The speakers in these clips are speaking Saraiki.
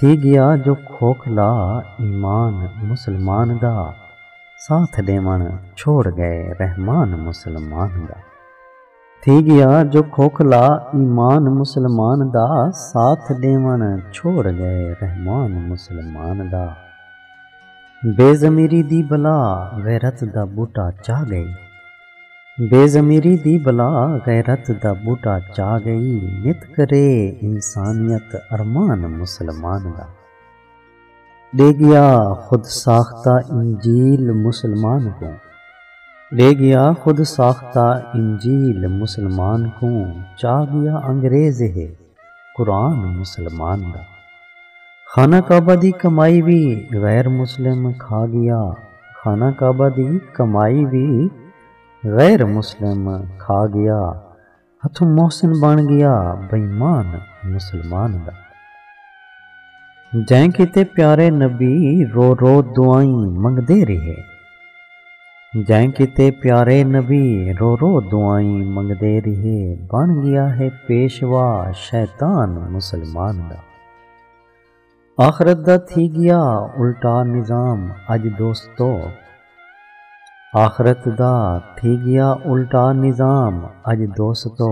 تھی ڳیا جو کھوکھلا ایمان مسلمان دا ساتھ ݙیوݨ چھوڑ ڳئے رحمان مسلمان دا تھی ڳیا جو کھوکھلا ایمان مسلمان دا ساتھ ݙیوݨ چھوڑ ڳئے رحمان مسلمان دا بے ضمیری دی بلا غیرت دا ٻوٹا چا ڳئی۔ بے ضمیری دی بلا غیرت دا ٻوٹا چا ڳئی نت کرے انسانیت ارمان مسلمان دا ݙے ڳیا خود ساختہ انجیل مسلمان کوں ݙے ڳیا خود ساختہ انجیل مسلمان کوں چا ڳیا انگریز ہے قرآن مسلمان دا خانہ کعبہ دی کمائی وی غیر مسلم کھا گیا خانہ کعبہ دی کمائی وی غیر مسلم کھا گیا ہتھوں محسن بݨ گیا بےمان مسلمان دا جئیں کیتے پیارے نبی رو رو دعائیں منگدے ریہے۔ جئیں کیتے پیارے نبی رو رو دعائیں منگدے ریہے بݨ ڳیا ہے پیشوا شیطان مسلمان دا آخرت دا تھی ڳیا الٹا نظام اڄ دوستو آخرت دا تھی ڳیا الٹا نظام اڄ دوستو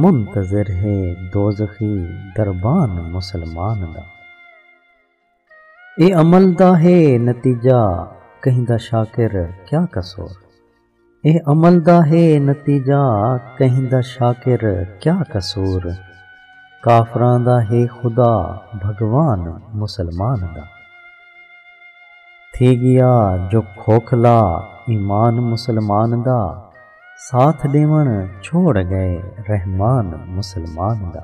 منتظر ہے دوزخی دربان مسلمان دا۔ اے عمل دا ہے نتیجہ کہیں دا شاکر کیا قصور اے عمل دا ہے نتیجہ کہیں دا شاکر کیا قصور کافراں دا ہے خدا بھگوان مسلمان دا تھی گیا جو کھوکھلا ایمان مسلمان دا ساتھ ݙیوݨ چھوڑ ڳئے رحمان مسلمان دا۔